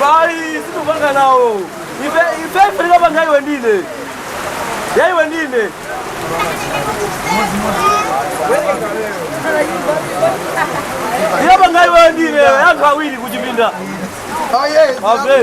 Bayi, sitikupanga nawo. Ife ife ife tikapanga iwe ndine. Ya iwe ndine. Tikapanga iwe ndine, anthu awiri kuchipinda. Oh yes. Okay.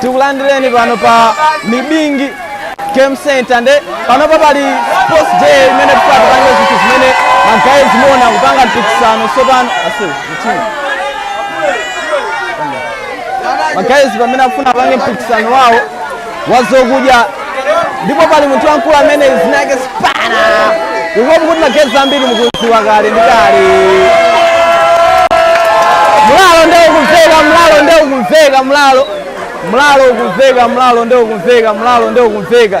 tikulandireni pano pa mibingi game center nde panopa pali sports day imene tikupanga zinthu zimene magayizi afuna kupanga mpikisano sopano ase mtima magayizi pamene afuna apange mpikisano wawo wa zokudya ndipo pali munthu wamkulu amene zina lake spana I hope kuti magayizi ambiri mukuziwa kale ndi kale mlalo nde ukumveka mlalo nde ukumveka mlalo mlalo ukumveka mlalo nde ukumveka mlalo nde ukumveka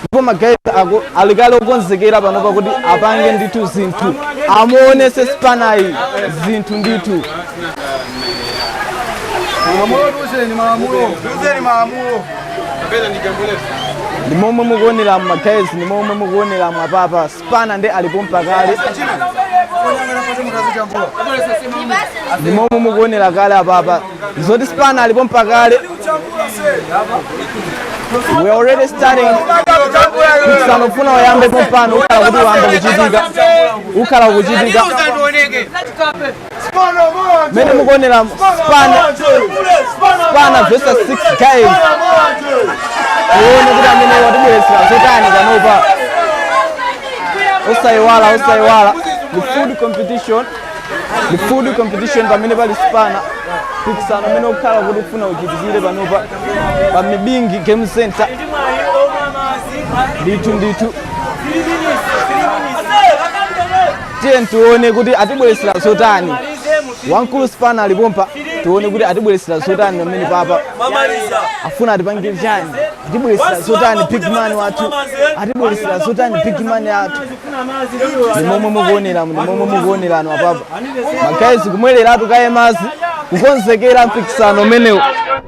ndipo ma guys ako ali kale okonzekera panopa kuti apange ndithu zinthu amuonese spanayi zinthu ndithu Malamulo tiuzeni malamulo. Tiuzeni malamulo. ndi momwe mukuonera ma guys ndi momwe mukuonera apapa Spana nde ali pompa kale ndi momwe mukuonera kale apapa zoti spana ali pompa kale we already starting mpikisano ufuna uyambe pompano ukhala kuti wayamba kuchitika ukhala kuchitika mene mukuonera spana spana versus 6 guys uone kuti amene atibweretsera zotani panopa osayiwala osayiwala the food competition the food competition pamene pali spana mpikisano umene ukhala kuti ufuna uchitikire panopa pa mibingi game center ndithu ndithu Tiyeni tione kuti atibweretsera zotani. Wamkulu Sipana ali pompa, tione kuti atibweretsera zotani pamene apapa. Afuna atipangire chani? Atibweretsera zotani big man wathu? Atibweretsera zotani big man athu? Ndi momwe mukuonera, ndi momwe mukuoneramu apapa. Magayizi kumwereratu kaye madzi, kukonzekera mpikisano umenewu,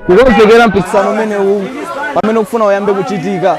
kukonzekera mpikisano umenewu pamene ukufuna uyambe kuchitika.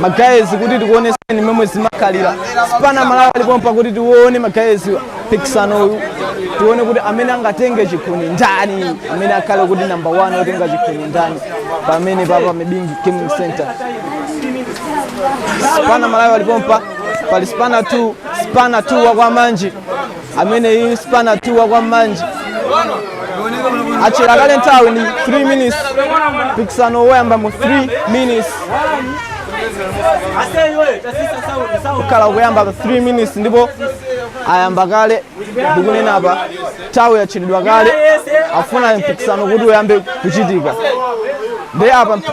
magayezi kuti tikuoneseni momwe zimakhalira sipana malawi alipompa kuti tione magayezi mpikisano uyu tione kuti amene angatenge chikhuni ndani amene akhale kuti namba 1 otenga chikhuni ndani pamene papa mibingi gaming center sipana malawi alipompa pali sipana 2 sipana 2 wakwamanje ameneyi spana 2 wa kwamanje atchera kale nthawi ndi 3 minutes mpikisano woyamba mu 3 minutes kukhala kuyamba 3 minutes ndipo ayamba kale ndikunena apa nthawi yatchedwa kale afuna mpikisano kuti uyambe kuchitika ndi apa mp-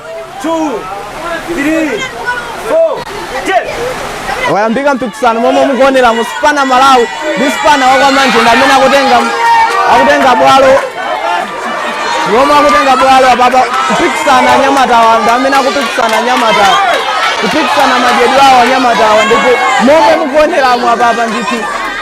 wayambika mpikisano momwe mukuoneramu spana malawi ndi spana wakwamanje ndi amene akutenga bwalo momwe akutenga bwalo apapa kupikisana anyamatawa ndi amene akupikisana anyamatawa kupikisana madyedwe awo anyamatawa ndipo momwe mukuoneramu apapa ndithu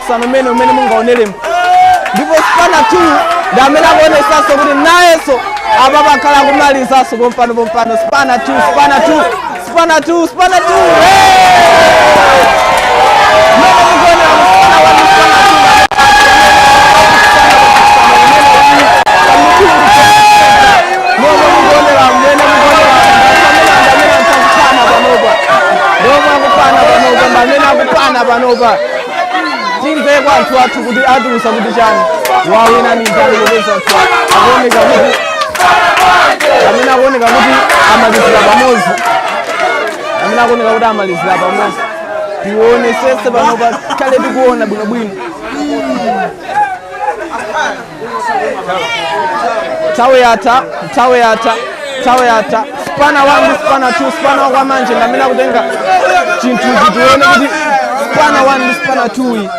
mpikisano umene umene mungaonelemo ndipo spana 2 ndi amene akuonesanso kuti nayenso apapa akhala akumalizanso pompano pompano spana 2 spana 2 spana 2 spana 2 Mene mukuonera spana 1 spana 2 momwe mukuonera mmene mukuonera amene amene akupana panopa momwe akupana panopa ndi amene akupana panopa timve kwa anthu athu kuti atiuza kuti chani wawina ni ndani popeza anthu akuoneka kuti amene akuoneka kuti amalizira pamodzi amene akuoneka kuti amalizira pamodzi tionesese panopa tikhale tikuona bwinobwino nthawi yatha nthawi yatha nthawi yatha spana 1 ndi spana 2 spana wakwa manje ndamene akutenga chinthuchi tione kuti spana 1 ndi spana 2 iyi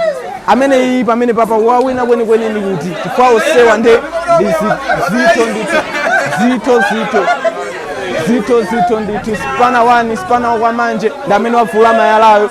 amene iyi pamene papa wawina kwenikweni ndi kuti chifukwa onsewa nde ndi zi- zitho ndithu zitho zitho zitho zitho ndithu spana 1 spana wakwa manje ndamene wavula malayayo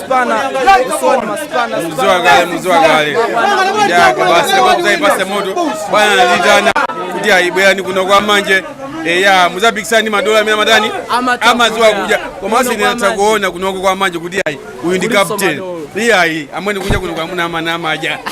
muziwa kale muziwa kale yaka basi kuzaipasa moto bwana anatiitana kuti ayi bwerani kuno kwa manje eya muzapikisane ndi madolo amene amatani amaziwa kudya komanso ine ndinatha kuona kunoko kwa manje kuti ayi uyu ndi captain iyayi amwene kudya kuno kwamuna amana amadya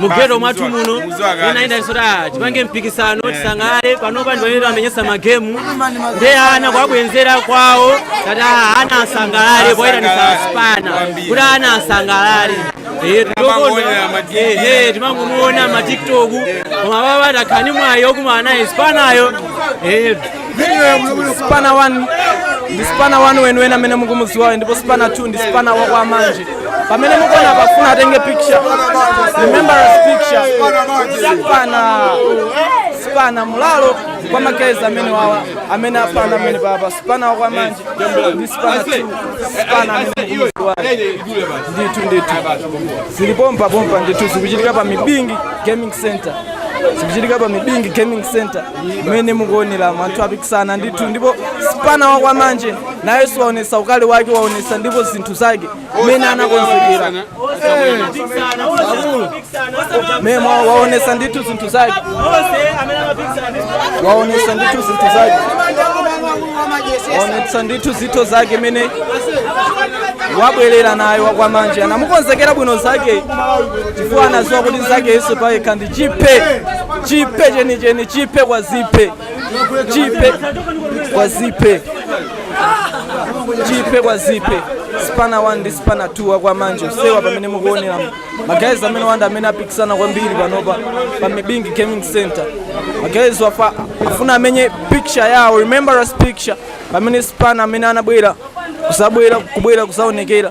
mugeto mwathu muno ina ina sura tipange mpikisano tisangalale panopa ndipanene amenyesa magemu ndi ana kuwabwenzera kwawo tati ah, ana asangalale poyitanisa asipana kuti ana asangalale Eh, Timangoonera ma TV. Eh, eh, timangomuona matiktok koma baba takhala ni mwayi okumana naye sipanayo Eh, spana 1 ndi spana 1 weniweni amene mukumuziwayo ndipo spana 2 ndi spana wa kwa manje pamene mukuona pafuna atenge picture remembrance picture spana spana mulalo kwa magayizi amene awa amene apanga amene apapa spana wa kwa manje ndi spana 2 spana amene mukumuziwayo ndithu ndithu zili pompa pompa ndithu zikuchitika pa mibingi gaming center zikuchitika pa mibingi gaming center mmene mukuonera anthu apikisana ndithu ndipo spana wa kwa manje nayenso waonesa ukali wake waonesa ndipo zinthu zake mmene anakonzekera mmene mwa- waonesa ndithu zinthu zake waonesa ndithu zinthu zake waonesa ndithu zinthu zake mmene wabwerera naye wakwamanje anamukonzekera bwino zake chifukwa anaziwa kuti zake yesu payekha ndi chiphe chiphe chenicheni chiphe kwa ziphe chiphe kwa ziphe chiphe kwa ziphe spana 1 ndi spana 2 wakwa manje usewa pamene mukuonera magayizi amene wanda amene apikisana kwambiri panopa pa mibingi gaming center magayizi wafa afuna amenye picture yawo remembrance picture pamene spana amene anabwera kuzabwera kubwera kuzaonekera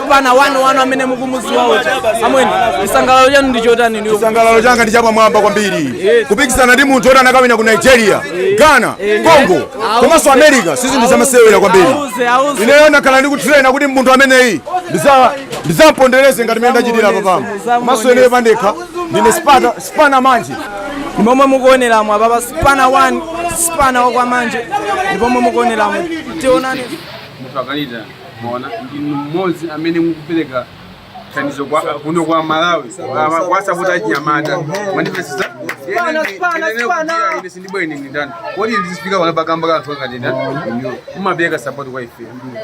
spana 1 1 amene mukumuziwa uja amweni chisangalalo chanu ndi chotani ineyo chisangalalo changa ndi chapamwamba kwambiri kupikisana ndi munthu woti anakawina ku nigeria ghana congo komanso america si zinthu zamasewera kwambiri auze auze ineyo ndakhala ndikutrena kuti munthu ameneyi ndiza- ndizampondereze ngati mene ndachitira apapamo komanso ineyo pandekha ndine spata- spana manje ndi momwe mukuoneramo apapa spana 1 spana wakwamanje ndi momwe mukuoneramo tionani mutu akalita mona ndinu mmodzi amene mukupereka thandizo kuno kwa malawi kwa- kwa sapota achinyamata mwandipesisa ine sindibwa ine ndindani kodi ndizifika pano pakamba ka inu amene mumapereka sapoti kwa ife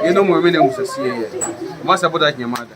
inuyo amene musasiye iye kumasapota achinyamata